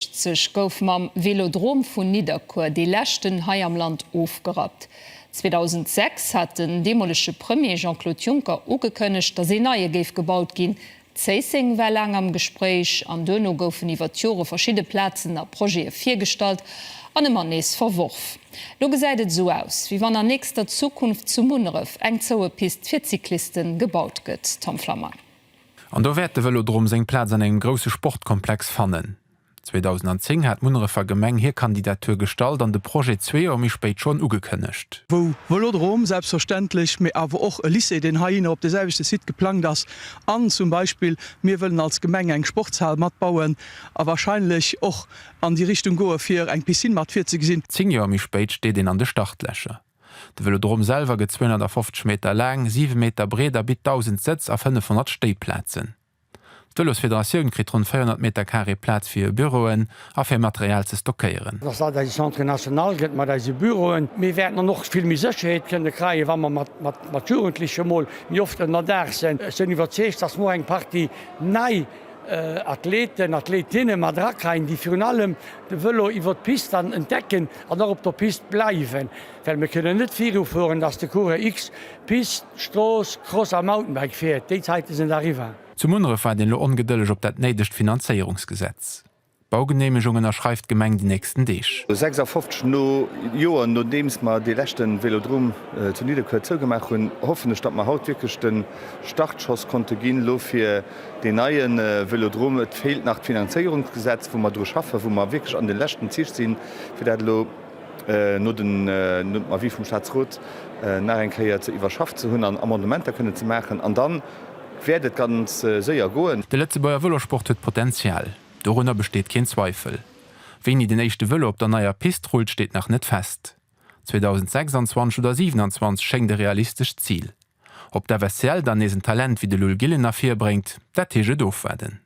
1980 gouf mam Velodrom vun Nidderkuer dee leschten hei am Land ofgerappt. 2006 hat den deemolege Premier Jean-Claude Juncker ugekënnegt, datt ee neie géif gebaut ginn. Zéisseng war laang am Gespréich an duerno goufen iwwer d'Jore verschidde Plazen a Projete virgestallt an ëmmer nees verworf. Lo gesäit et esou aus, wéi wann an nächster Zukunft zu Munneref eng zoue Pist fir d'Cycliste gebaut gëtt. Tom Flammang. An do wäert de Vëlodrom seng Plaz an engem grousse Sportkomplex fannen. 2010 hat d'Munnerefer Gemeng hir Kandidatur gestallt an de Projet zwee Joer méi spéit schonn ugekënnegt. wou Vëlodrom selbstverständlech, mee awer och e Lycée, deen heihinner op de selwechte Site geplangt ass, an zum Beispill mir wëllen als Gemeng eng Sportshal matbauen a wahrscheinlech och an déi Richtung goe fir eng Piscine mat virzegesinn. Zéng Joer méi spéit steet een an de Startlächer. De Vëlodrom selwer gëtt 250 Meter laang, 7 Meter breet a bitt 1.000 Sëtz a 500 Stéiplazen. D'Vëlosfederatioun kritt ronn 400 Meter Carré Plaz fir hir Büroen a fir Material ze stockéieren. Dass dat eise Centre national gëtt mat eise Büroen. Mir wäerten dann och vill méi Sécherheet kënne kreien, wa mer mat Jugendleche mol méi oft ënnerdaach sinn. Ech sinn iwwerzeegt, dass muer eng Partie nei. Athleten, Athletinne mat erakreien, déi virun allem de Vëlo iwwer d'Pist dann entdecken an och op der Pist bleiwen, well mir kënnen net virufueren, dass de Coureur X Pist, Strooss, Cross a Mountainbike fiert. Déi Zäite sinn eriwwer. Zu Munneref waart een elo ongedëlleg op dat néidegt Finanzéierungsgesetz. D'Baugeneemegung ënnerschreift d'Gemeng déi nächsten Deeg. 56 no Joer nodeems mer dee leschten Velodrom zu Nidderkuer zougemaach hunn, hoffen ech datt mer haut wierklech den Startschoss konnten ginn elo fir deen neien Velodrom. Et feelt nach d'Finanzéierungsgesetz wou mer dru schaffen, wou mer wierklech an den leschten Zich sinn fir dat elo no den Avis vum Staatsrot nach eng Kéier ze iwwerschafft ze hunn an Amendementer kënnen ze maachen an dann, Wäert et ganz séier goen? De Lëtzebuerger Vëlosport huet Potenzial, dorunner besteet keen Zweifel. Wéini den éischte Vëlo op der neier Pist rullt, steet nach net fest. 2026 oder 27 schéngt e realistescht Zil. Ob d'FSCL dann nees en Talent wéi de Lull Gillen ervirbréngt, dat heescht et ofwaarden.